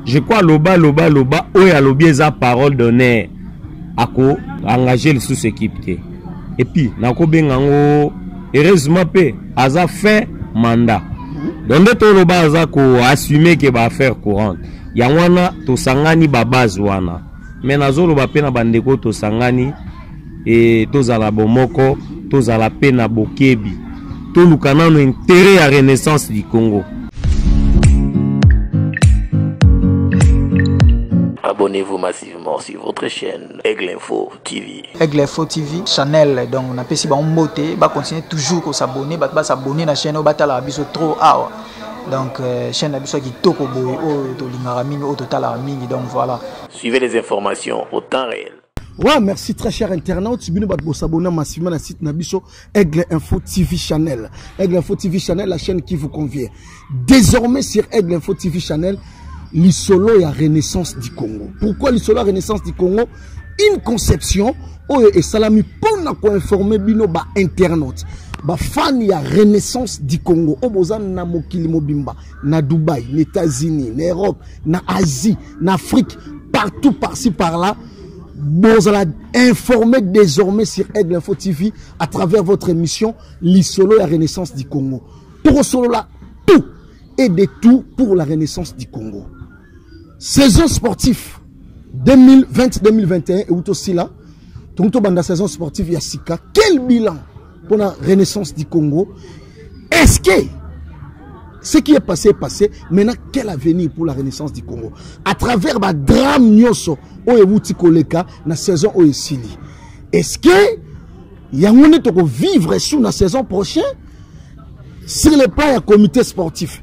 je crois loba loba loba oyo alobi eza parole d'honneur ako engage lisusu ekipe te epuis nakobenga yango heureusement mpe aza fin mandat donc nde toloba aza koassume ke baaffaire courante yango wana tosangani babase wana me nazoloba mpe na bandeko oyo tosangani e, tozala bomoko tozala mpe na bokebi toluka nano intere ya renaissance du congo abonnez-vous massivement sur votre chaîne Aigle Info TV. Aigle Info TV, channel, donc on a pesi ba mbote, ba continuer toujours ko s'abonner, ba s'abonner na chaîne, ba tala biso trop awa. donc euh, chaîne na biso ya kitoko boye oyo tolingaka mingi oyo totalaka mingi donc voilà suivez les informations au temps réel wa merci très cher internaute bino bato bosabona massivement na site na biso aigle info tv channel aigle info tv channel la chaîne qui vous convient désormais sur aigle info tv channel lisolo ya renaissance du congo pourquoi lisolo ya renaissance du congo une conception oyo esalami mpo na koinforme bino bainternaute bafani ya renaissance du congo oyo boza na mokili mobimba na dubai na états-unis na europe na asie na afrique partout par-ci par-là bozala informé désormais sur aigle info tv à travers votre émission lisolo ya renaissance du congo tokosolola tout et de tout pour la renaissance du congo saison sportif 2020-2021 euti osila tongi tobanda saison sportive ya sika quel bilan mpo na renaissance du congo est ce que ce qui est passé est passé maintenant quel avenir pour la renaissance du congo à travers badrame nyonso oyo euti koleka na saison oyo esili est ce que yango nde tokovivre sur na saison prochaine sur le plan ya comité sportif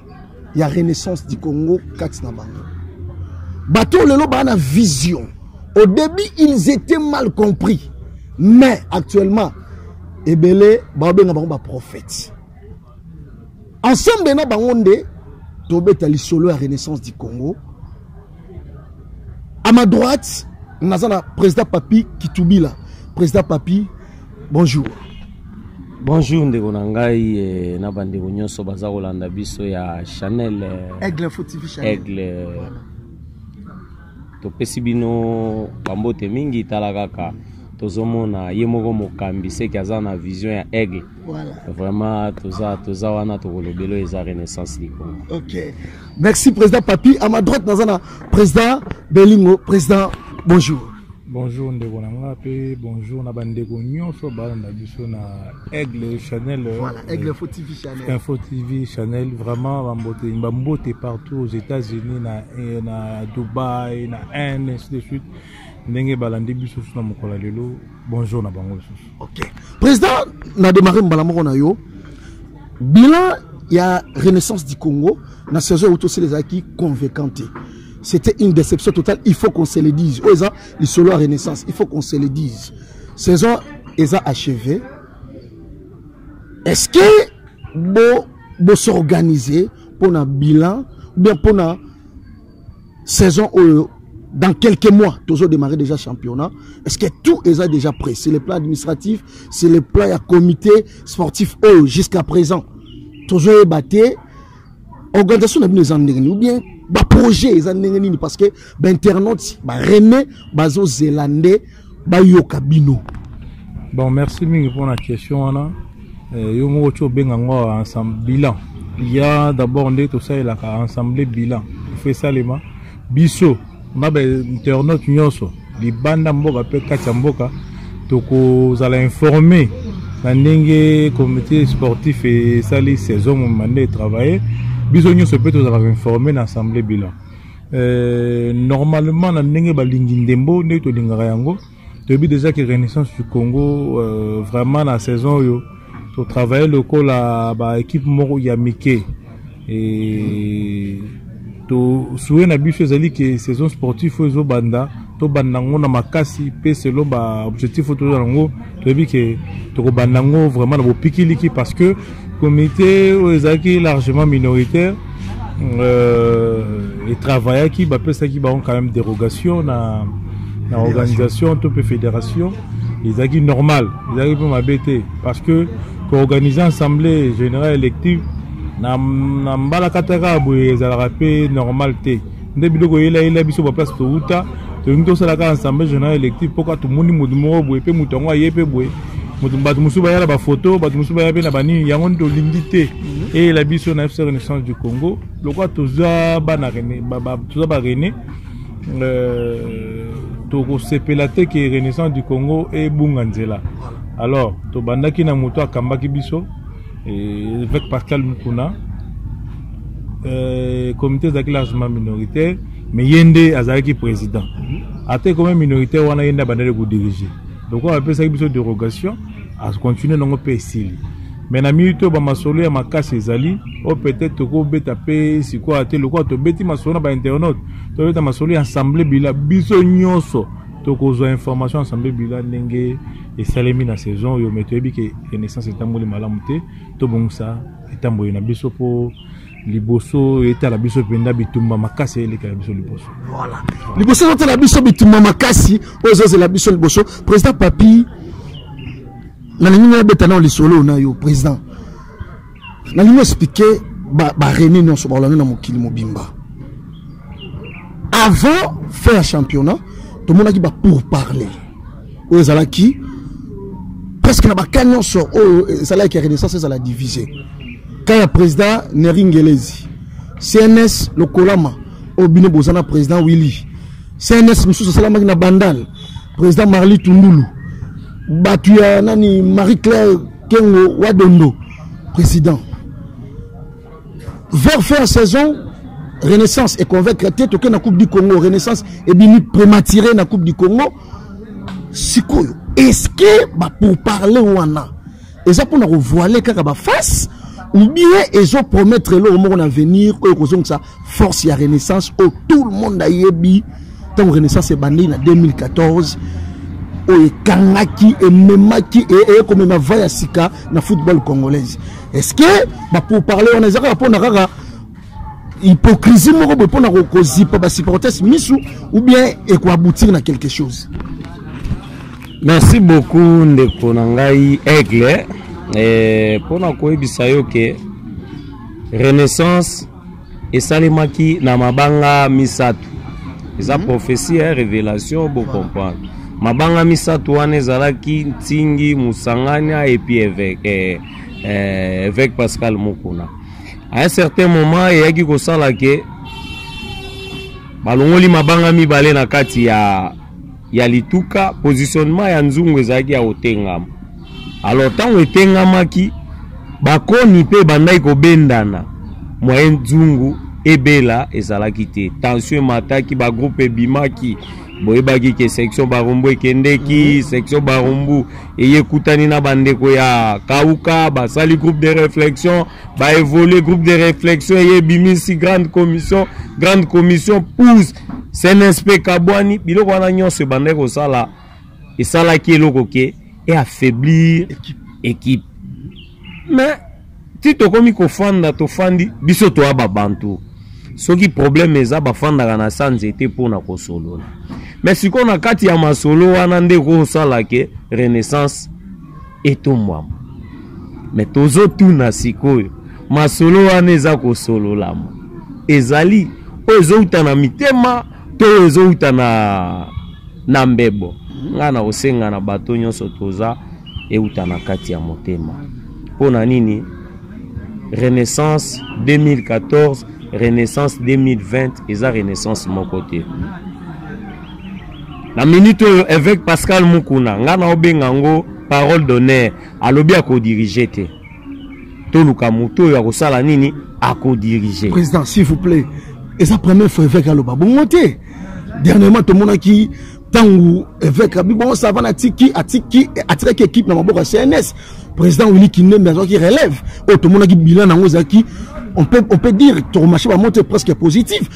ya renaissance du congo kati na bango bato oyo lelo baa na vision au début ils étaient mal compris mais actuellement ebele baobenga bango baprophète ensemble na bango nde tobeta lisolo ya renaissance du congo à ma droite naza na président papi kitubila président papi bonjour bonjour ndeko na ngai eh, na bandeko nyonso baza kolanda biso ya chanel eh, aigle info tv chanel aigle topesi bino bambote mingi tala kaka tozomona ye moko mokambi seke aza na vision ya aigle Voilà. Vraiment, toza, toza wana tokolobelo eza renaissance du Congo. Ok. Merci président Papi. À ma droite nazana président Belingo, président bonjour. Bonjour ndeko na nga pe bonjour na bandeko nyonso balanda biso na Aigle Chanel. Voilà, euh, Aigle Info TV Chanel. Info TV Chanel vraiment bambote bambote partout aux États-Unis na na Dubaï na Inde ainsi de suite. ndenge balandi biso susu na mokolo ya lelo bonjour na bango lisusu ok président na démarre mbala moko na yo bilan ya renaissance du congo na saison euti osili ezalaki convaincant te c'était une déception totale il faut qu'on se le dise oyo eza lisolo ya renaissance il faut qu'on se le dise saison eza achevé est ce que bo bosorganize mpo na bilan ou bien mpo na saison oyo dans quelques mois tozo démarrer déjà championnat est-ce que tout est déjà prêt c'est le plan administratif c'est le plan ya comité sportif oyo jusqu'à présent tozo yeba te organisation na bino eza ndenge nini ou bien baprojet eza ndenge nini parce que bainternaute barene bazozela nde bayoka bino bon merci mingi mpona question wana eh, yo moko ti obenga ngo ensemble bilan ya d'abord nde tosalelaka ensemble bilan ifo esalema biso na bainternaute nyonso libanda mboka mpe kati ya mboka tokozala informe na ndenge comité sportif esali saison momima nde etravaille biso nyonso mpe tozalaka informe na assemblée bilan Euh, normalement na ndenge balingi ndembo ndenge tolingaka yango toyebi déjà que renaissance du congo euh, vraiment na saison oyo totravaille lokola baekipe moko ya mike tosue na biso ezali ke saison sportif oyo ezobanda tobanda yango na makasi mpe selon baobjectif oyo tozala yango toyebi ke tokobanda yango vraiment na bopikiliki parce que comité oyo ezalaki largement minoritaire euh, etravaillaki bapesaki bango quand même dérogation na, na organisation to mpe fédération ezalaki normal ezalaki mpe mabe te parce que koorganize assemblée générale élective na, na mbalakataka boye ezalaka mpe normal te nde biloko eyela yela biso ba place towuta tolingi tosala kaka ensemble journal électif mpo kaka tomoni moto moko boye mpe moto yango aye mpe boye moto bato mosusu baya na bafoto bato mosusu baya mpe na banini yango nde tolingi te mhm. eyela biso na fc renaissance du congo lokola toza bana rene toza ba rene euh, tokosepela te ke renaissance du congo ebunga nzela alors tobandaki na moto akambaki biso Évêque Pascal Mukuna, euh, comité ezalaki largement minoritaire, mais ye nde azalaki président. Mhm. Ata ekoma minoritaire wana ye nde abandaki kodirige. Donc oyo apesaki biso dérogation, akontinue nango mpe esili. Mais na minute oyo bamasolo ya makasi ezali oyo peut-être tokobeta mpe sikoyo ate lokola tobeti masolo na bainternaute tobeta masolo ya ensemble bila biso nyonso tokozwa information ensemble bila ndenge esalemi na saison oyo me toyebi ke renaissance etamboli malamu te tobongisa etamboli na biso mpo liboso etala biso mpenza bitumba makasi elekela biso liboso voilà. liboso ezotala biso bitumba makasi oyo ezozela biso liboso président papi nalingi nabeta nao lisolo na yo président nalingi explike barene nyonso baolanda na mokili mobimba avant fin ya championnat tomonaki bapourparler oyo ezalaki presque na baka nyonso oyo ezalaki ya renaissance ezala divise ka ya président neri ngelezi cns lokolama oyo bino boza na président willy cns mosusu esalamaki na bandal président marli tundulu bato ya nani marie claire kengo wadondo président vers fin saison renaissance econvaincre te tokei na coupe du congo renaissance ebimi prématuré na coupe du congo sikoyo eske bapourparle wana eza mpona kovoile kaka baface ou bien ezopromettre eloko moko na avenir oyo ekozongisa force ya renaissance oyo tout le monde ayebi ntango renaissance ebandeli na 2014 oyo ekangaki ememaki e, e, eye komema va ya sika na football congolaise est ce que bapourparle wana eza kaka mpona kaka hypocrisie moko boye mpona kozipa basupportes misu ou bien ekoaboutir na quelque chose merci beaucoup ndeko na ngai aigle eh, mpona koyebisa yo ke renaissance esalemaki na mabanga misato eza mm -hmm. prophetie ya revelation bocomprendre mabanga misato wana ezalaki ntingi mosangania epi eveke eh, eh, eveke pascal mokuna à un certain moment eyaki kosala ke balongoli mabanga mibale na kati ya ya lituka positionnement ya nzungu ezalaki ya kotengama alors ntango etengamaki bakoni mpe ebandaki kobendana moyen nzungu ebela ezalaki te tension emataki bagroupe ebimaki boyebaki ke section barumbu ekendeki mhm. section barumbu eye ekutani na bandeko ya kauka basali groupe de réflexion ba évoluer groupe de réflexion eye ebimisi grande commission grande commission pousse cnsp kabwani biloko wana nyonso ebandaki kosala esalaki eloko ke e affaiblir équipe mais ti tokomi kofanda tofandi biso toya babantu soki problème eza bafandaka na sa nzete mpo na kosolola mais sikoyo na kati ya masolo wana nde ekosala ke renaissance etombwama me tozotuna sikoyo masolo wana eza kosololama ezali oyo ezouta na mitema to oyo ezouta na, na mbebo ngai na kosenga na bato nyonso toza euta na kati ya motema mpo na nini renaissance 2014 renaissance 2020 eza renaissance moko te na minute oyo évêque pascal mukuna ngai naobenga yango parole d'honneur alobi akodirige te toluka moto oyo akosala nini akodirige président s'il vous plaît eza première fois évêque aloba bongo te dernièrement tomonaki ntango évêque abi bongo savana atiki atiki atikaki équipe na maboko ya cns président wini kindembe azwaki relève oyo tomonaki bilan na yango ezalaki on peut, on peut dire tokomache bamonte presque positive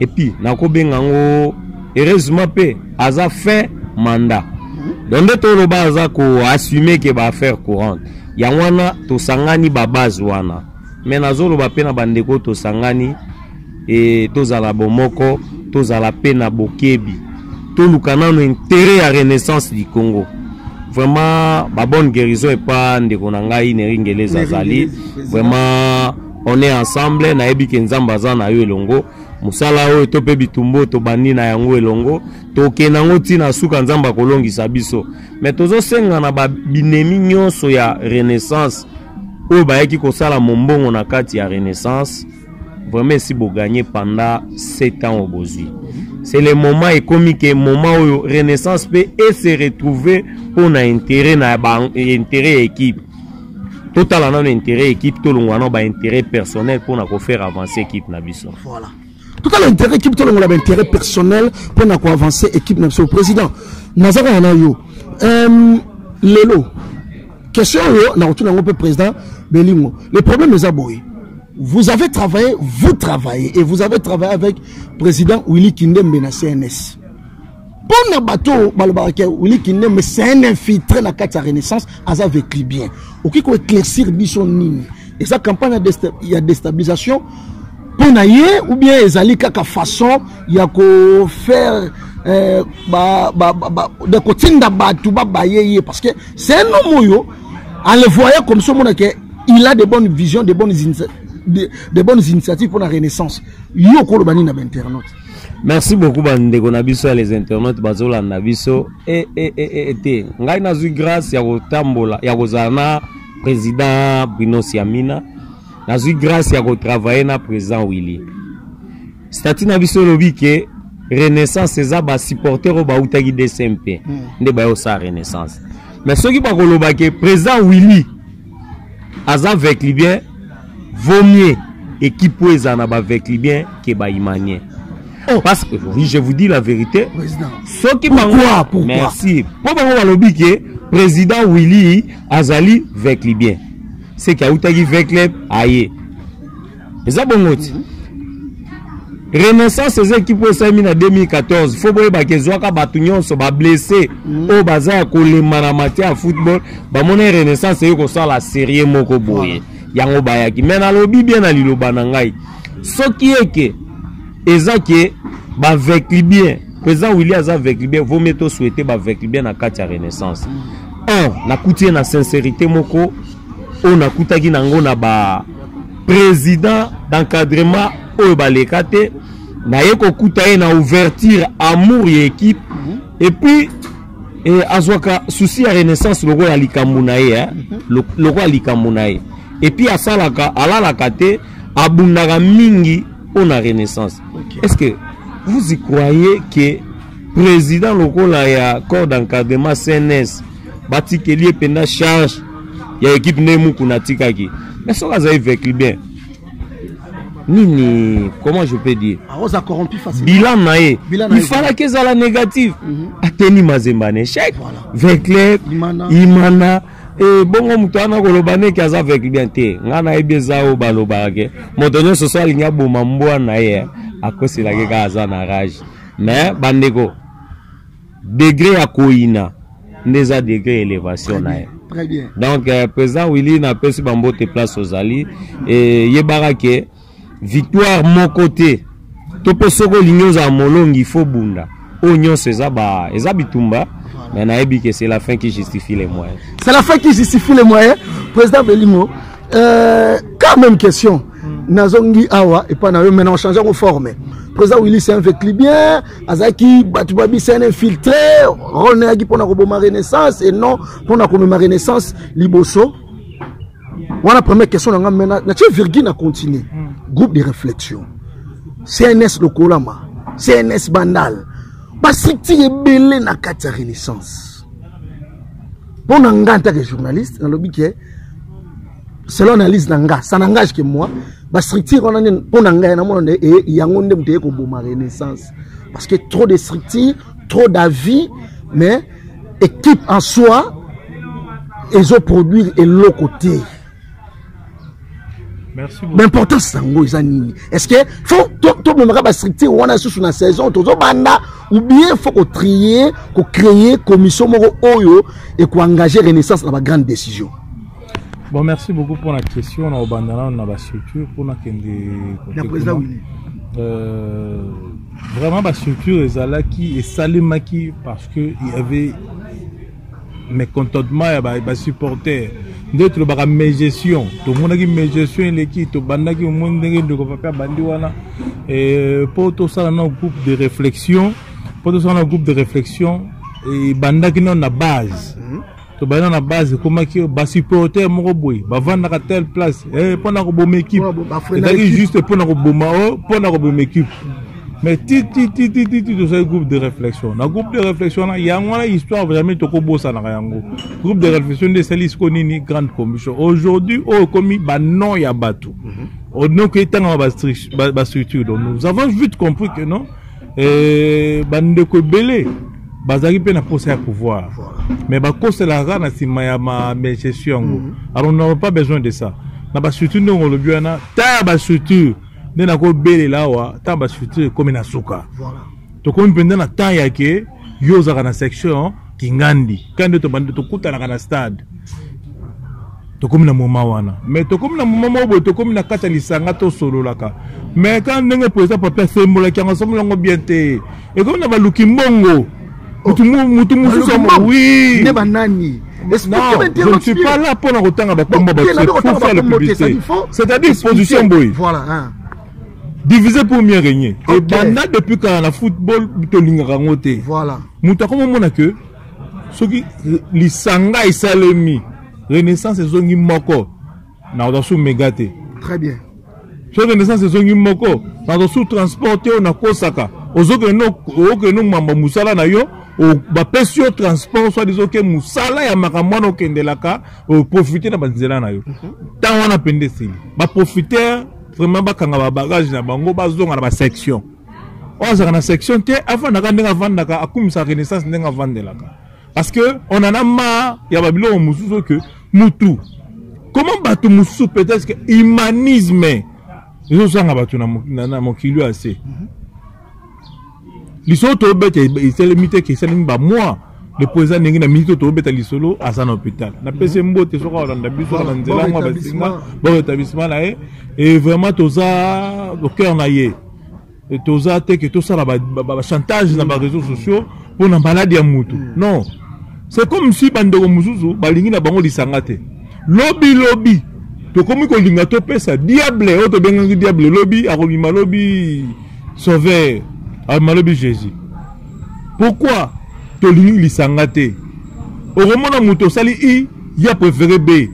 epuis nakobenga yango heureusement mpe aza fin mandat donc nde toloba aza koassume ke baaffaire courante yango wana tosangani babase wana me nazoloba mpe na bandeko tosangani e, tozala bomoko tozala mpe na bokebi toluka nano intere ya renaissance du congo vraiment babonne guérison epa ndeko na ngai neringeleza azali vraiment on est ensemble nayebi ke nzambe aza na yo elongo mosala oyo to mpe bitumba oyo tobandi na yango elongo tokenda yango ntina suka nzambe akolongisa biso me tozosenga na babinemi nyonso ya renaissance oyo bayaki kosala mombongo na kati ya renaissance vraiment esi boganye panda 7 ans oyo bozwi c'est le moment ekomi ke moment oyo renaissance mpe ese retrouve mpo na intérêt na intérêt ya équipe totala nano intérêt équipe tolongwa na baintérêt personnel mpo na kofaire avance équipe na biso voilà. totala intérêt équipe tolongola baintérêt personnel mpo na koavance équipe na biso président naza kaka na yo um, lelo question oyo nakotuna yango mpe président belingo le problème eza boye vous avez travaillé vous travaillez et vous avez travaillé avec président willy kindembe na cns mpo na bato oyo balobaka ke wili kindembe c'est un infiltré na kati ya renaissance aza vecli bien okoki koéclaircir biso nini eza campagne ya destabilisation mpo na ye ou bien ezali kaka façon ya kofaire eh, de kotinda bato babaye ye parce que c'est un homme oyo en le voyant comme ça omona ke il a de bonnes visions de bonnes, de, de bonnes initiatives mpo na renaissance yo okoloba nini na bainternaute merci beaucoup bandeko na biso ya les internautes bazolanda biso e, e, e, e, te ngai nazwi grâce ya kotambola ya kozala na président bruno siamina nazwi grâce ya kotravaille na président willy stati na biso elobi ke renaissance eza basupporter oyo bautaki dcmp hmm. nde bayosala renaissance mais soki bakoloba ke président willy aza veclibien vaut mieux équipe oyo ezala na baveclibien ke baimanien oh. parce que oui, je vous dis la vérité soki merci mpo bango balobi ke président willy azali veclibien seke autaki vecleb aye eza bongo ti renaissance eza ekipe oyo esalemi na 2014 fo boyebaka ezwaka bato nyonso bablesse mm. oyo baza ya kolemba na matie ya football bamoni renaissance eye kosala serie moko boye yango bayaki me nalobi bien na liloba na ngai soki eke eza ke bavekli bien président willi aza vekli bien vomie tosouete bavekli bien na kati ya renaissance mm. un nakuti ye na sincérité moko oyo nakutaki nango na ba président d'encadrement oyo baleka te naye kokuta ye na ouverture amour ya équipe mhm. et puis eh, azwaka souci ya renaissance lokola likambo na ye eh? Mhm. lokola likambo na ye et puis asalaka alalaka te abundaka mingi mpo na renaissance okay. est ce que vous y croyez que président lokola ya corps d'encadrement cns batikeli ye mpenza charge ya ekipe nde mukuna atikaki mais soki azali vekli bien nini comment je peux dire aoza ah, corrompu facile bilan na ye il falaki ezala négatif mhm. ateni mazemba na échec vekle imana e bongo moto wana koloba ndeke aza vekle bien te ngai nayebi eza oyo balobaka ke moto nyonso so alingi aboma mbwa na ye akoselaki kaka aza na rage mais bandeko degre ya koyina nde eza degre ya elevation na ye donc euh, président willi napesi bambote place ozali eyebaka ke victoire moko te to mpe soki olingi ozala molongi ifo bunda oyo nyonso eza, ba, eza bitumba mais nayebi ke c'est la fin qui justifie les moyens c'est la fin qui justifie les moyens président belingo euh, quand même question mm. nazongi awa epai na yo maintenant ochange yango forme président willi c'est un vecli bien azalaki bato babisa na infiltre role na yaki mpona koboma renaissance et non mpona komema renaissance liboso wana première question na nga mena natie virgule na continue hmm. groupe de réflexion cns lokolama cns bandal bastructure ebele na kati ya renaissance mpo na ngai ntaka journaliste nalobi ke selon analyse na nga ça n'engage que moi ba structure wana nde mpo na ngai namona nde e yango nde moto eye koboma renaissance parce que trop de structure trop d'avis mais équipe en soi ezoproduire eloko te baimportance yango eza nini est ce que fo tomemaka bastructure wana lisusu na saison tozobanda ou bien fo kotrie kocreye commission moko oyo ekoengage renaissance na bagrande décision Bon, merci beaucoup pour la question. On a bandana, on a la structure pour la kende. Euh, vraiment, la structure est là qui est salimaki parce que il y avait mes contentements, il y avait mes supporters. nde tolobaka mégestion tomonaki mégestion eleki tobandaki omoni ndenge ndeko pape abandi wana mpo tosala na groupe de réflexion mpo tosala na groupe de réflexion ebandaki nano na base tobanda na base ekomaki basupporter moko boye bavandaka telle place eh, mpo na koboma ekipe ezalaki juste mpo na koboma o oh, mpo na koboma ekipe mais titititititi tozali groupe de réflexion na groupe de réflexion wana yango wana histoire jamais tokobosanaka yango groupe de réflexion nde esali siko nini grande commission aujourd'hui oyo ekomi banon ya bato mhm. onoki etangama bastructure donc nous avons vite compris que non Euh, bandeko ebele bazalaki mpe na mposa ya pouvoir mais bakoselaka na nsima ya magestion yango mhm. alors nous pas besoin de ça na bastructure ndenge olobi wana ta ya bastructure nde nakobelela awa ntango bastructure ekomi na suka tokomi mpenza na temps yake yo ozalaka na section kingandi kandi tobandi tokutanaka na stade tokomi na moma wana me tokomi na moma moko boye tokomi na kati ya lisanga tosololaka me ka ndenge président papi asembolaki yango asomboli yango bien te ekomi na baluki mbongo motu mosusu wi nde banani Non, je ne suis pas là pour en autant à la combat. C'est-à-dire position boy. Voilà. Hein. divise pour mieux régner okay. ebanda depuis kala na football tolingaka yango te voilà. moto akoma omona ke soki lisanga esalemi renaissance ezongi moko nakozwa su mega te très bien soki renaissance ezongi moko nazwa su transport te oyo nakosaka ozokende okende omamba mosala na yo bapesi yo transport soit disant oke mosala ya makambo wana okendelaka oprofite na banzela na yo ntango mhm. wana mpenza esili baprofiter vraiment bakanga ba bagage na bango bazonga na ba section oyo azalaka na section te afandaka ndenge afandaka akumisaka renaissance ndenge afandelaka parce que on en a marre ya babiloko mosusu oyo ke mutu comment bato mosusu peut-être que humanisme ezozanga bato na mokili oyo ase mhm. lisolo tobeta esalemi te ke esalemi bamwa lepo eza ndenge na miniti oyo tobeta lisolo aza na hôpital napesi mhm. mbote soki alanda biso kaka na nzela yango basinga bon établissement na ye e vraiment toza cœur na ye toza te ke tosala bachantage na baréseau sociaux mpo na maladi ya motu mhm. non c'est comme si bandeko mosusu balingi na bango lisanga te lobi lobi tokomi kolinga topesa diable oyo tobengaki diable lobi akobima lobi sauveur abima lobi jésus pourquoi tolingi lisanga te okomona moto osali i ya préféré b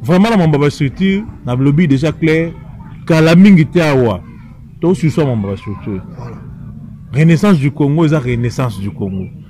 vraiment na mambo ya bastructure na lobi déjà clair kala mingi te awa tosuswa mambo ya bastructure renaissance du congo eza renaissance du congo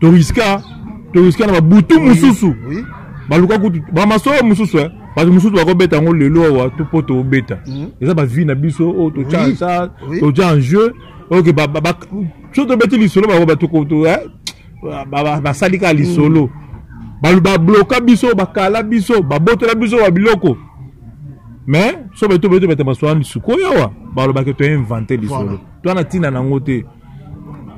toriska toriska na babutu mosusu baluka kutu bamasoya mosusu eh. bato mosusu bakobeta yango lelo awa to mpo tobeta mhm. eza bavie na biso oyo oh, totya sa totya en jeu oke so tobeti lisolo eh, basali kaka lisolo mhm. babloka biso bakala biso babotela biso ba biloko mais so betobetobeta masolo ya lisuku oyo awa balobaki toinvente lisolo to na ntina na yango te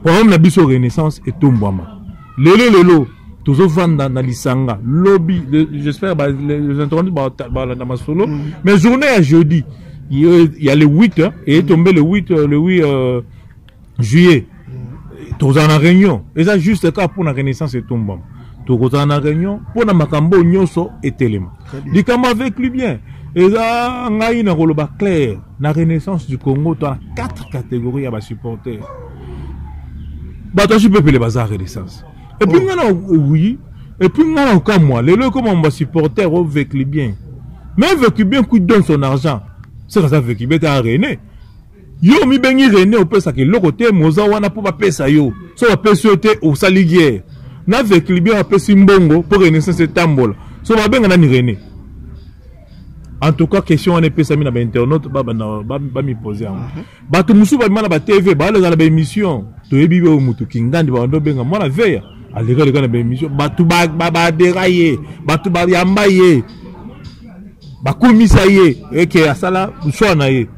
programme na biso renaissance etombwama lelo lelo tozovanda na lisanga lobi j'espère les interventus balanda masolo mm. mais journée ya jeudi ya le 8 eye tombe le 8 euh, le 8 euh, juillet mm. tozala na réunion eza juste kaka mpo na renaissance etombwama tokozala na réunion mpo na makambo nyonso etelema likambo avec lui bien eza ngai nakoloba claire na renaissance du congo to na quatre catégorie ya basupporter bato asi pepele baza renaissance epuis oh. ngai na oui epuis ngai na okamwa lelo ekoma mo basupporter ovekli bien mais vekli bien kuit donne son argent seke aza vekli bien te arene yo omibengi rene opesaka eloko te moza wana mpo bapesa yo so bapesi yo te osali guerre na veclibien apesi mbongo mpo renaissance etambola so babenga nani rene en tout cas question wana epesami na bainternaute bamipose yango mhm. bato mosusu babima na batv baleka na baémission toyebi oyo motu kingandi babanda obenga mwana veya aleka leka na baémission bato badera ye bato bayamba ye bakumisa ye eke asala mswa na ye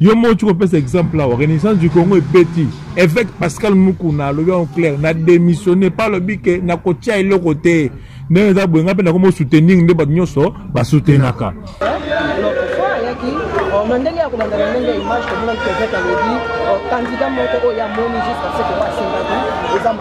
yo moko ti kopesa exemple awa renaissance du congo ebeti évêque pascal mukuna alobi yango claire na démissionne mpe alobi ke nakotia eloko te ndenge eza boye ngai mpe nakomi osoutenir nde bato nyonso basoutenaka na ndenge ya kolanda na ndenge ya image tomonaki évêque alobi candidat moko oyo amoni jusqu'à ce que asengaki eza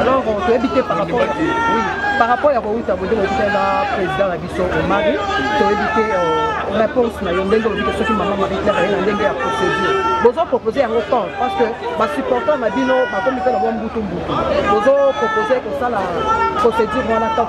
alors euh, toyebi te par rapport oui par rapport ya kowuta boye ndenge okutani na président na biso omari toyebi te euh, réponse na yo ndenge olobi te soki mama marie claire aye na ndenge ya procédure bozo propose yango quand parce que basupportant na bino bakomi mpe na mwa mbutu mbutu bozo propose kosala procédure wana tant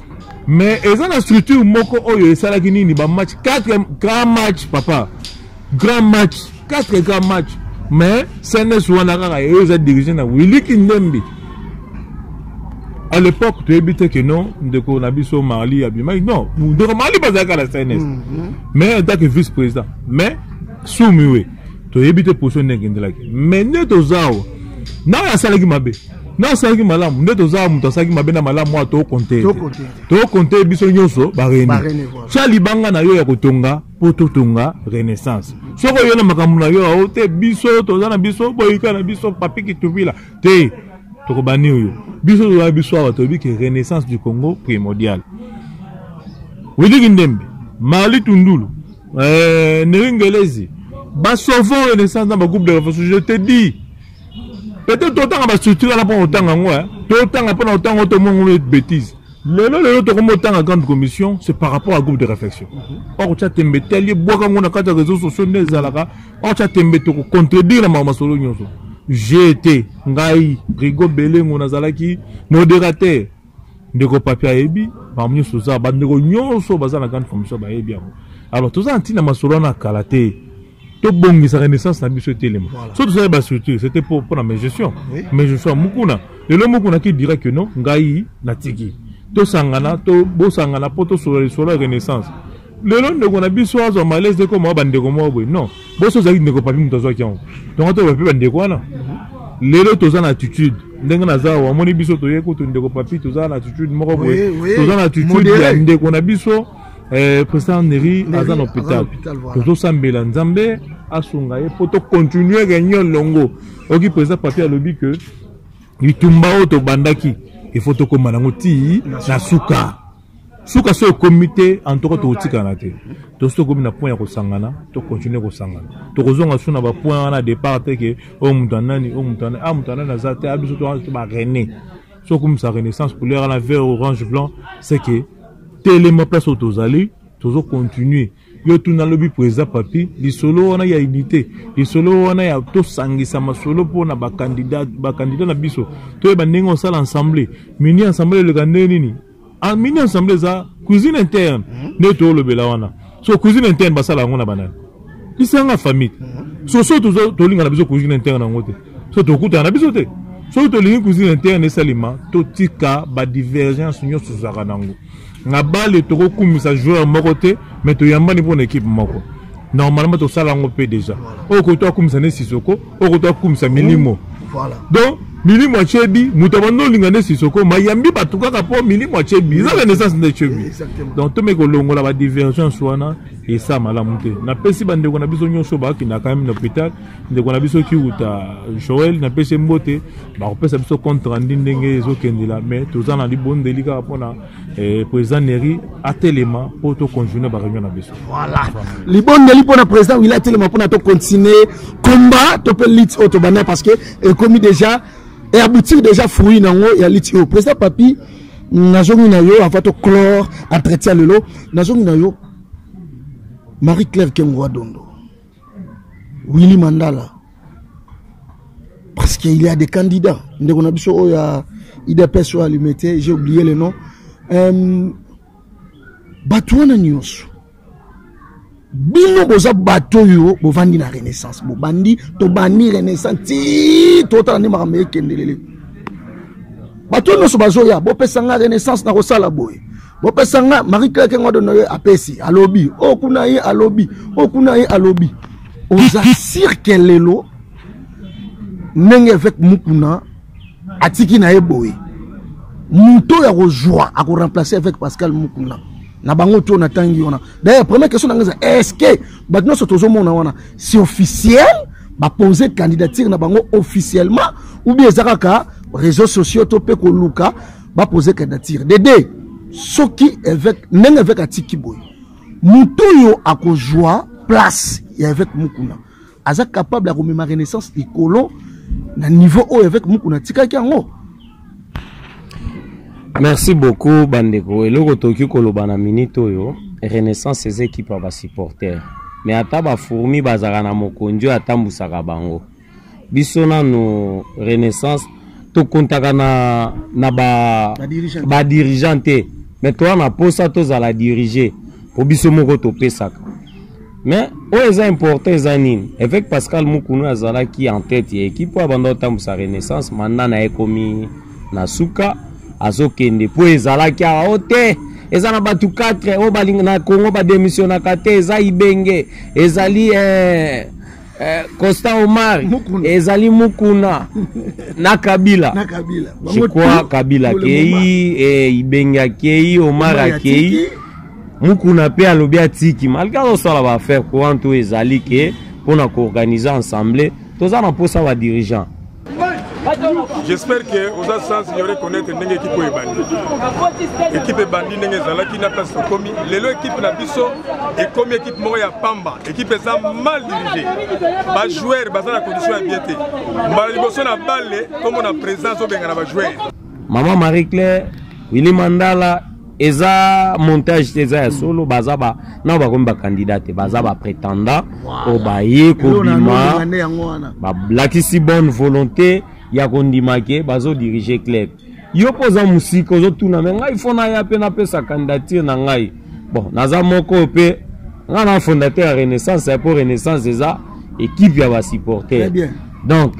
mais eza na structure moko oyo esalaki nini ba match 4 grand match papa grand match 4 grand match mais cns wana kaka eyo eza dirige na willi kindembi à l'époque toyebi te ke non ndeko na biso marli abimaki non ndeko marli bazalaka na cns mhm. mais en tant que vice président mais sumiwe toyebi te position nde ekendelaki mais nde toza awa nayo asalaki mabe na asalaki malamu nde tozala moto asalaki mabe na malamu wana tokonte tokonte biso nyonso bareni tya libanga na yo ya kotonga mpo totonga renaissance soki oyo na makambo na yo ao te biso toza na biso boyika na biso papi kituvila te tokobani oyo biso toza biso awa toyebi ke renaissance du congo primordial wiliki ndembe mali tundulu eh, neringelezi basovon renaissance na bagroupe de réflexion je te dis peut-être totanga bastructure wana mpona kotanga yango eh. totanga mpona kotanga oyo tomongo bétise lelo lelo tokomi otanga grande commission c'est par rapport à groupe de réflexion mhm. or otya tembe te alie bwaka yango na kati ya réseau sociaux nde ezalaka or otya tembe tokocontredire na makambo masolo nyonso jete ngai rigo belengo nazalaki modérateur ndeko papi ayebi makambo nyonso oza bandeko nyonso baza na grande commission bayebi yango alors toza na ntina masolo wana kala te tobongisa renaissance na biso etelema voilà. so tozali bastructure c'était pour mpona mes gestion oui. mes gestion ya mokuna lelo mokuna ki dira que non ngai natiki tosangana to, bosangana mpo tosolola lisolo ya renaissance lelo ndeko na biso azwa malaise te koma bandeko moko boye non boso ozalaki ndeko papi moto azwaki yango tongo toyeba mpe bandeko wana lelo toza na attitude ndenge naza awa amoni biso toye kutu ndeko papi toza na attitude moko boye toza na attitude ya ndeko na biso Eh, président neri aza na hôpital tozosambela nzambe asunga ye mpo tocontinue réunion longo oki président papier alobi ke bitumba oyo tobandaki ifo tokóma nango ti na suka suka so ekomi te antoka tokotikana te tosi tokomi na point ya kosangana tocontinue kosangana tokozonga su na bapoint wana départ te ke oyo oh, moto anani oyo oh, moto anani a ah, moto anani aza te a ah, biso to barene soki okumisa renaissance couleur wana vert orange blanc c'est que telema place oyo tozali tozo continuer yo tuna lobi président papi lisolo wana ya unité lisolo wana ya tosangisa masolo mpo na bakandida bakandida na biso toyeba ndenge osala ensemble mini ensemble eleka ndenge nini Ah, mini ensemble eza cuisine interne mhm. nde toolobela wana so cuisine interne basala yango na banani lisanga famille mhm. so so tolinga na biso cuisine interne yango te so tokutana na biso te soki tolingi cuisine interne esalema totika badivergence nyonso ezalaka nango na bale tokokumisa joueur moko te mais toyambani mpo na ekipe moko normalement tosala yango mpe deja oyo koto akumisa ne sisoko oko to akumisa milimo voilà donc milimo ya chebi moto abandi olinga nde sisoko mayambi bato kaka mpo milimo ya chebi eza renaissance nde chebi donc tomeki kolongola badivergence wana esa malamu te napesi bandeko na biso nyonso bakenda quand même na hôpital ndeko na biso kiuta joel napesi mbote bakopesa biso compte rendu ndenge ezokendela mais toza na libondeli kaka mpona eh, président neri atelema mpo tocontinue bareunion na biso voilà libondeli mpo na président wili atelema mpona tocontinue combat to mpe lite oyo tobanda parce que ekomi déjà e aboutir déjà fruit na yango ya lite oyo président papi nazongi na yo avant toclore entretien lelo nazongi na yo marie claire kengoa dondo Willy Mandala parce qu'il y a des candidats ndeko na biso oyo ya idps oyo alime te j'ai oublié le nom euh, bato wana nyonso bino boza bato oyo bovandi na renaissance bobandi tobandi renaissance ti totala nde makambo ekendelele bato nyonso bazoya bopesa nga renaissance nakosala boye bopesa nga marie claire kengo adono ye apesi alobi o oh, kuna ye alobi o oh, kuna ye alobi oza sirke lelo ndenge eveke mukuna atiki na ye boye moto oyo akozwa akoremplace avec pascal mukuna na bango to natangi wana d'ailleurs première question na ngai eza est ce que bato nyonso tozomona wana si officiel bapose candidature na bango officiellement ou bien eza kaka réseau sociaux to mpe koluka ba poser candidature dede soki évêque ndenge évêque atiki boye moto oyo akozwa place ya évêque mukuna aza capable ya komema renaissance likolo na niveau oyo évêque mukuna atikaki yango merci beaucoup bandeko eloko tokoki koloba na minute oyo renaissance eza ekipe ya basupporter mais ata bafourmi bazalaka na mokonzi oyo atambusaka bango biso nano renaissance tokontaka na, na ba, ba dirigeant te me toya na mposa tozala dirige mpo biso moko topesaka mais oyo eza important eza nini évêque pascal mukunu azalaki en tête ya équipe oyo abanda kotambwisa renaissance manda na ye ekomi na suka azokende mpo ezalaki awa o te eza na bato 4 oyo na congo bademisionaka te eza ibenge ezali eh, Eh, Constant Omar Mukuna. ezali Mukuna na Kabila. na Kabila. Je Bango crois tout, Kabila pour le moment. akei, eh, Ibenge akei, Omar Omar akei. atiki. Mukuna mpe alobi atiki malgre azosala ba affaire courante oyo ezali ke mpo na koorganize ensemble toza na mposa ba dirigeant j'espère que oza sens yo reconnaître ndenge ekipe oyo ebandi ekipe ebandi ndenge ezalaki na place tokomi lelo ekipe na biso ekomi ekipe moko ya pamba ekipe eza mal dirige bajoueur baza na condition ya bien te mbala liboso na balle tomona présence obengana bajoueur mama marie claire wili mandala eza montage te eza ya solo baza ba nao bakomi bakandidat te baza bapretendant oyo baye kobima balakisi bonne volonté ya kondima ke bazodirige club yo mpo oza mosika ozotuna me ngai fo naya mpe napesa candidature na ngai bon naza moko oyo mpe ngai na fondateur ya renaissance ya mpo renaissance eza ekipe ya basupporter donc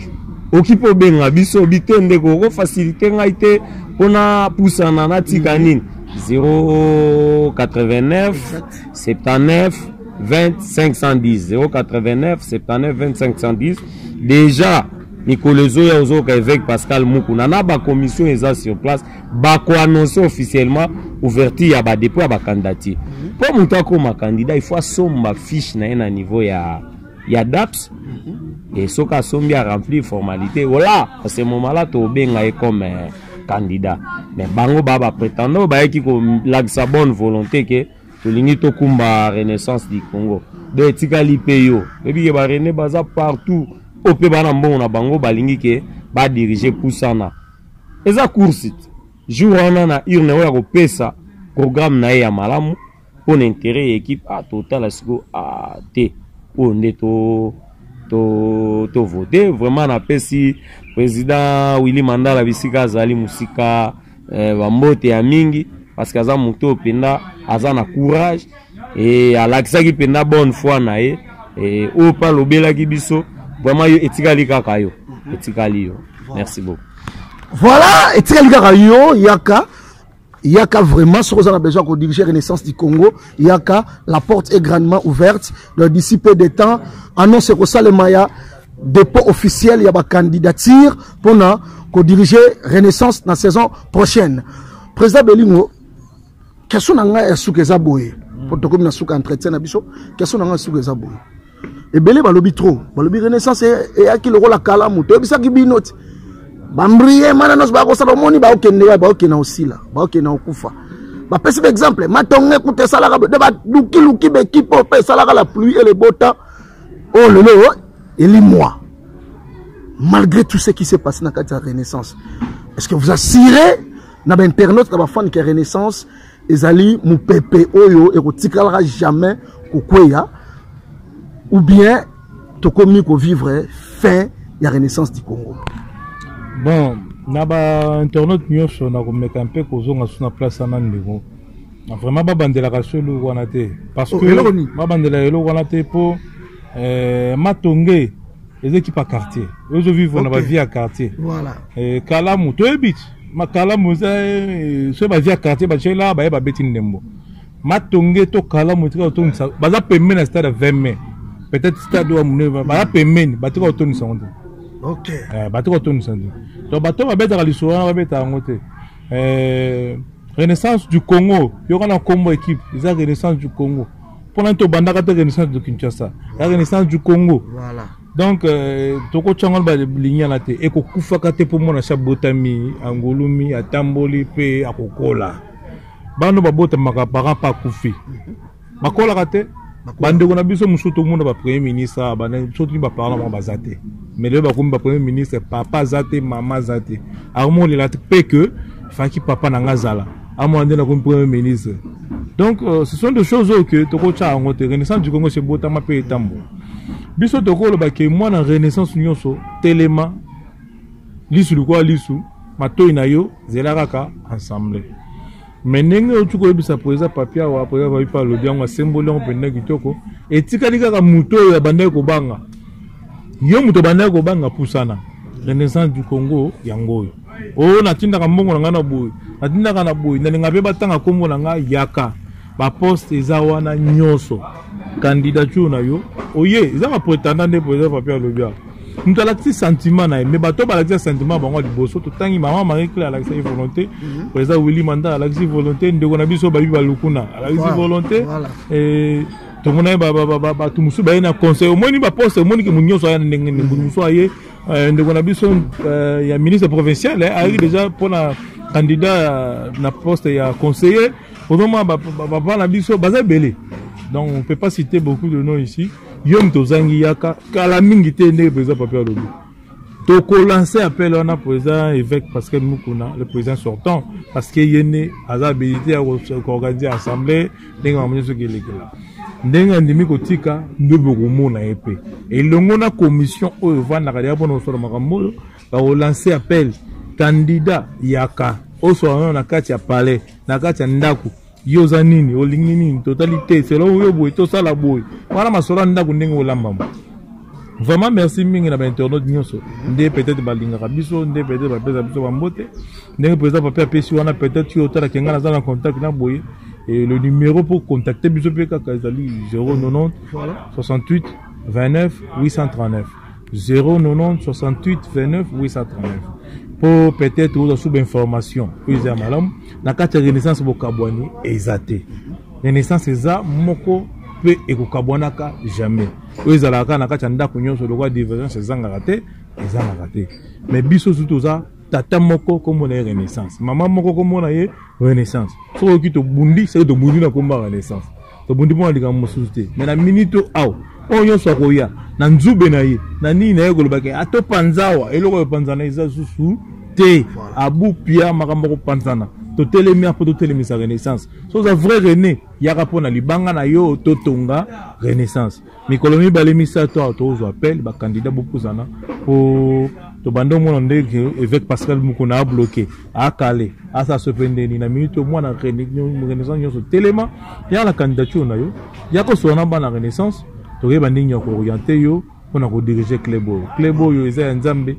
oki mpo obenga biso bite ndeko okofasilite ngai te mpo napusana natika nini 089 79 20 510 089 79 20 510 déjà mikolo ezoya ozoyoka évêque pascal mukuna na bacommission eza sur place bakoannonce officiellement ouverture ya badepot ya bacandidature mpo mhm. moto akoma candidat il faut asomba fiche na ye na niveau ya ya daps mhm. e soki asombi a remplir formalité ola à ce moment là tobenga ye comme euh, candidat mais bango baa baprétendant oyo bayaki kolakisa bonne volonté ke tolingi tokumba renaissance du congo donc etikali mpe yo oyebi ke barene baza partout oyo mpe bana mbongo na bango balingi ke badirige pusana eza course jour wana na urne oyo akopesa programme na ye ya malamu mpo na interet ya ekipe ah, totala siko ah, te oyo nde to tovote to vraiment napesi président willi mandala bisika azali mosika eh, bambote ya mingi parce que aza moto oyo mpenza aza na courage e alakisaki mpenza bonne foi na ye e, oyo mpe alobelaki biso vraiment yo etikali kaka yo etikali yo merci beaucoup voilà etikali kaka yo yaka yaka vraiment soki oza na besoin ya kodirige renaissance du congo yaka la porte est grandement ouverte donc d'ici peu de temps annonce ekosalema ya dépôt officiel ya bacandidature mpo na kodirige renaissance na saison prochaine président belingo question na ngai ya suka eza boye mpo tokomi na suka entretien na biso question na ngai ya suka eza boye ebele balobi trop balobi renaissance eyaki lokola kalamu toyebisaki bino ti bambrie mana nyonso bakosala omoni baokende wapi baokenda osila baokenda okufa bapesi baexemple matonge kuta esalaka de balukiluki bekipe oyo mpe esalaka la pluie et le beau temps oyo oh, lelo oh, elimwa malgré tout ce qui s'est passé na kati ya renaissance est ce que vous assurez na bainternaute na bafani ke renaissance ezali mopepe oyo ekotikalaka jamais kokweya ou bien tokomi kovivre fin ya renaissance du congo bon na bainternaute nyonso nakomeka mpe kozonga so na place ana ndeko vraiment babandelaka so eloko wana te parce oh, que babandela eloko wana te mpo eh, matonge eza ekipa quartier ozo vivre na bavie ya quartier kalamu toyebi ti makalamu eza eh, soki bazwi ya quartier batyeli awa baye babeti ndembo matonge to kalamu etika kotondisa baza pembeni ya stade ya 20 mai peut-être stade oyo monene baza pembeni batika kotondisa yango te okay. eh, batika kotondisa te donc bato oyo babetaka lisolo wana babetaka yango te eh, renaissance du congo yoka na nkombo équipe eza renaissance du congo mpo nani tobandaka te renaissance de kinshasa ya renaissance du congo voilà. donc euh, tokotya yango na balingana te ekokufaka te mpo mwana asi abotami angulumi atamboli mpe akokola bana babotamaka parent mpe akufi bakolaka te bandeko na biso mosusu tomona bapremier ministre soki baparla bango baza te mais lelo bakomi bapremier ministre papa aza te mama aza te akomolela te mpe ke faki papa na ngai azala amona nde nakomi premier ministre donc euh, ce sont des choses oyo ke tokotya yango te renaissance du congo esebotama mpe etambola biso tokoloba ke mwana renaissance nyonso telema lisu likola lisu matoi na yo zela kaka ensemble me ndenge oyoki koyebisa président papi awa président papi mpe alobi yango asemboli yango mpenza kitoko etikali kaka moto oyo abandaki kobanga yo moto abandaki kobanga pusana renaissance du congo yango oyo o oh, natindaka mbongo na ngai na boye natindaka na boye nalinga mpe batanga nkombo na ngai yaka baposte eza wana nyonso candidature na yo oye oh, eza bapretendant nde president papi alobi awa moto alakisi sentiment na ye me bato balakisa sentiment bango liboso totangi mama marie claire alakisaki volonté mhm. président willi manda alakisi volonté ndeko na biso babi balukuna alakisi volonté tomonaki bato mosusu baye na conseil omoni baposte omoniki moto nyonso aya na ndenge nini moto mosusu aye Euh, ndeko na biso euh, ya ministre provincial eh, ayaki deja mpona candidat euh, na poste ya conseiller ozomona bapapa na biso baza ebele donc on peut pas citer beaucoup de nom ici yo moto ozangi yaka kala mingi te ndenge président papi alobi tokolanse appel wana président évêque pascal mukuna le président sortant parce que ye nde aza habilité ya koorganiser assemblée ndenge makambo nyonso ekelekela ndenge andimi kotika nde bokomona ye mpe elongo na commission oyo efandaka deya mpona kosala makambo oyo bakolanse appel kandida yaka oswana na kati ya palais na kati ya ndako yo oza nini olingi nini totali te selon yo boye tosala boye wana masolo ya ndako ndenge olambama Vraiment merci mingi na ba internautes nyonso nde peut-être balingaka biso nde peut-être bapesa biso bambote ndenge président papi apesi wana peut-être yo otalaka ngai naza na contact na boye et le numéro pour contacter biso mpe kaka ezali 090 68 29 839 090 68 29 839 mpo peut-être ozwa sous bainformation oyo eza ya malamu na kati ya renaissance bokabwani eza te renaissance eza moko mpe ekokabwanaka jamais oyo ezalaka kaka na kati ya ndako nyonso lokola divergence ezangaka te ezangaka te mais biso sutu oza tata moko nkombo na ye renaissance mama moko nkombo na ye renaissance soki oyoki tobundi soki tobundi na nkombo ya renaissance tobundi mpo na likambo mosusu te mais na minute oyo awa oyo nyonso akoya na nzube na ye na nini na ye kolobaki atopanza awa eloko oyo epanzana eza susu te abupia makambo akopanzana totelemi apo totelemisa renaissance so oza vrai rene yaka mpo na libanga na yo totonga renaissance mikolo mibale misato awa tozwa appel bakandida bopusana mpo tobanda omona ndenge évêque pascal mokona abloke akale asa sope ndeni na minute omwana renaissance nyonso telema yaka na candidature na yo yaka osola na bana renaissance tokoyeba ndenge ya kooriente yo mpo na kodirige club oyo club oyo eza ya nzambe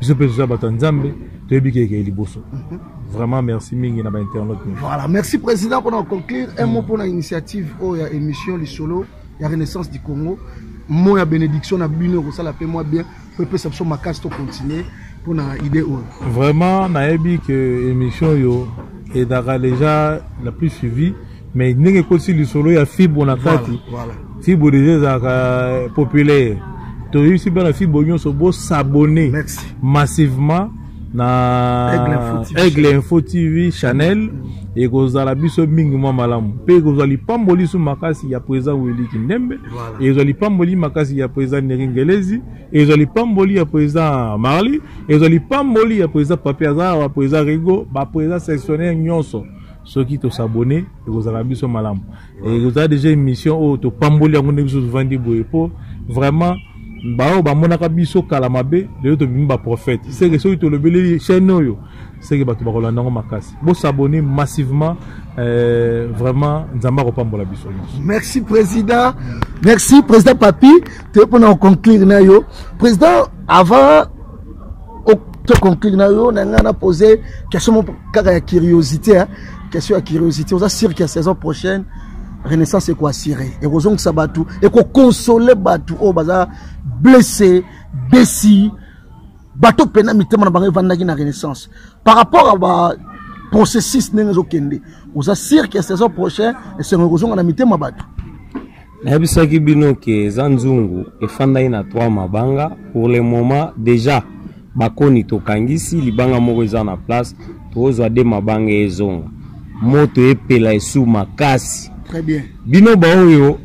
biso mpe toza bato ya nzambe toyebi ke ekei liboso mhm. vraiment merci mingi na bainternet voilà merci président mpona conclure un mot mpona initiative oyo ya émission lisolo ya renaissance du congo mot ya bénédiction na bino ekosala mpe mwa bien mpo epesa biso makasi tocontinue mpona idée oyo vraiment nayebi ke émission oyo edaka déjà la plus suivie mais ndenge ekotisi lisolo ya fibo na kati voilà, voilà. fibo deja ezalaka euh, populaire toyebisi bana fibo nyonso bosabone massivement na aigle info tv chanel ekozala biso mingi mwa malamu mpe ekozwa lipamboli su makasi ya président wili kindembe ekozwa lipamboli makasi ya président neri ngelezi ekozwa lipamboli ya président marly ekozwa lipamboli ya président papi aza awa président rigo baprésident sectionnaire nyonso soki tosabone ekozala biso malamu ekozala deja émission oyo topamboli yango ndenge biso tovandi boye mpo vraiment baoyo bamonaka biso kala mabe lelo tobimi baprofete seke soki tolobeleli chaîne oyo seke bato bakolanda yango makasi bosabone massivement euh, vraiment nzambe akopambola biso nyonso merci président merci président papi toye mpona koconclure na yo président avant toconclure na yo na ngai na pose question mo kaka ya curiosité hein? question ya curiosité oza sur que saison prochaine renaissance ekoassire ekozongisa bato ekokonsole bato oyo baza blesse desi bato mpena mitema na bango evandaki na renaissance par rapport à ba processus ndenge ezokende oza sur que saison prochaine esengo ekozonga na mitema bato nayebisaki bino ke eza nzungu efandaki na 3 mabanga pour le moment déjà bakoni tokangisi libanga moko eza na place tozwa de mabanga ezonga moto epela esu makasi bino baoyo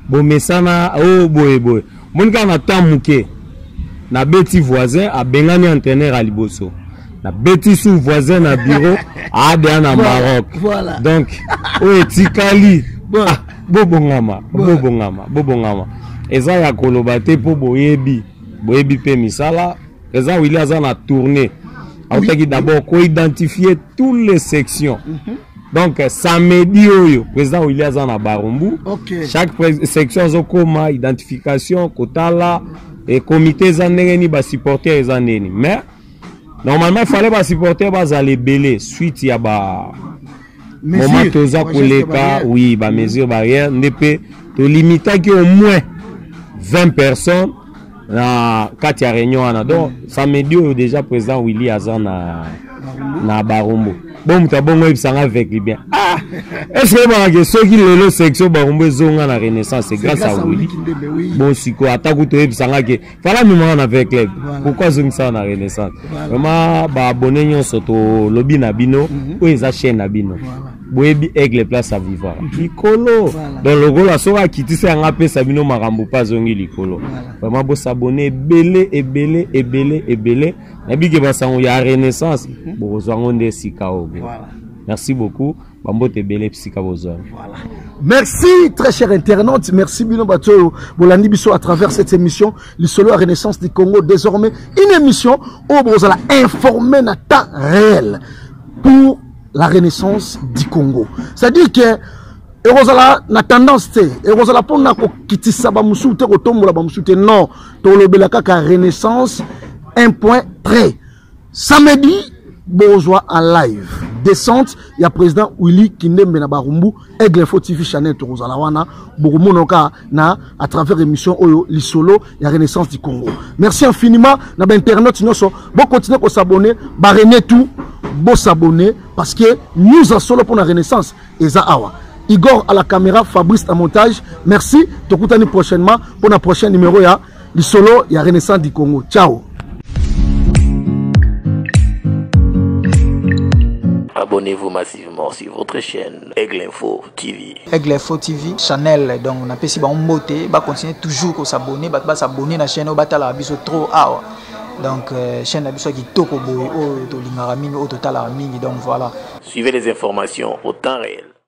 bomesana o oh, boye boye moni kaka na temps moke nabeti voisin abengani entraîneur ya liboso nabeti su voisin na bureau aadea na maroc voilà. donc oyo etikali bon. ah, bobongama bon. bobongama bobongama eza ya koloba te mpo boyebi boyebi mpe misala eza wili aza na tourne autaki d'abord koidentifie toutes les sections mm -hmm. donc samedi oyo président wili aza na barumbu okay. chaque section azokoma identification kotala e comité eza ndenge nini basupporter eza ndeni mais normalement ifale basupporter bazala ebele suite ya ba moment toza koleka oui bamesure barrière nde mpe tolimitaki au moins 20 personnes na kati ya réunion wana donc mm. samedi oyo déjà président willy aza na na barumbu bo moto abongo oyebisa nga avec libien ah est-ce que oyebaka ke soki lelo section barumbu ezonga na renaissance c'est grâce à willy bon sikoyo ata kutu oyebisa nga ke fala mimanga na avec club pourquoi azongisaka na renaissance vraiment baabone nyonso tolobi na bino mm-hmm. oyo eza chaîne na bino boyebi aigle place aviva likolo voilà. donc lokola soki akitisa yango apesa bino makambo mpe azongi likolo voilà. vraiment bosabone ebele ebele ebele ebele nabike basango ya renaissance mhm. bokozwa yango nde esika oyo voilà. merci beaucoup bambote ebele bisika bozwa voilà. merci très cher internaute merci bino bato oyo bolandi biso à travers cette émission lisolo ya renaissance du congo désormais une émission oyo bokozala informe na temps réel pour la renaissance du congo c'est à dire que ekozala na tendance te ekozala mpona kokitisa bamosusu te kotombola bamosusu te non tolobela kaka renaissance un point près samedi bozwa en live descente ya président willy kindembe na barumbu Aigle Info TV Chanel tokozala wana bokomona ka na à travers émission oyo lisolo ya Renaissance du Congo. Merci infiniment na ba internautes nyoso bo continuer ko s'abonner ba René tout bo s'abonner parce que nous en solo pour la Renaissance eza awa. Igor à la caméra, Fabrice à montage. Merci. Tokutani prochainement pour la prochaine numéro ya lisolo ya renaissance du congo ciao abonnez-vous massivement sur votre chaîne Aigle Info TV. Aigle Info TV, channel, donc on a pesi ba mbote, ba continuer toujours ko s'abonner, ba s'abonner na chaîne, ba tala biso trop awa. Donc euh, chaîne na biso ki toko boy, oh to lingara mingi, oh to tala mingi, donc voilà. Suivez les informations au temps réel.